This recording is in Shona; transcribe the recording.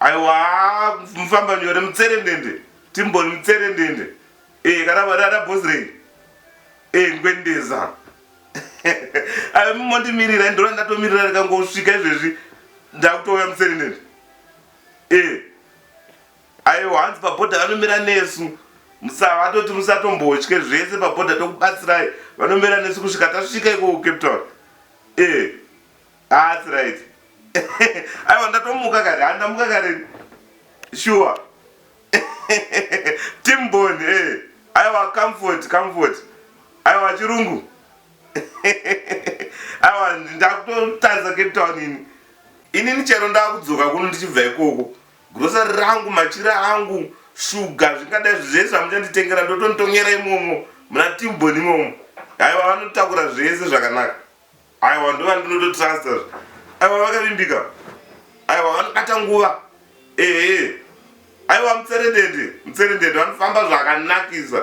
aiwa mufamba nyore mutserendende timboni mutserendende e, kana varara bosrei e, ngwendeza mondimirira ndona ndatomirira ndikangosvika izvezvi ndakutouya mutserendende e, aiwa hanzi pabhodha vanomira nesu musavatoti musatombotye zvese pabhodha tokubatsirai vanomira nesu kusvika tasvika iko kucape town e, Ah, it's right. Aiwa ndatomuka kare, handamuka kare. Sure. Team Bond, eh. Aiwa comfort, comfort. Aiwa chirungu. Aiwa ndakutotadza Cape Town ini. Ini nichero ndakudzoka kuno ndichibva ikoko. Grocery rangu, machira angu, sugar zvingadai zvese zvamuchanditengera ndotonitongera imomo. Muna Team Bond imomo. Aiwa vanotakura zvese zvakanaka. aiwa ndova ndinototrusta aiwa vakavimbika aiwa vanobata nguva ehe aiwa mutserendende mutserendende vanofamba zvakanakisa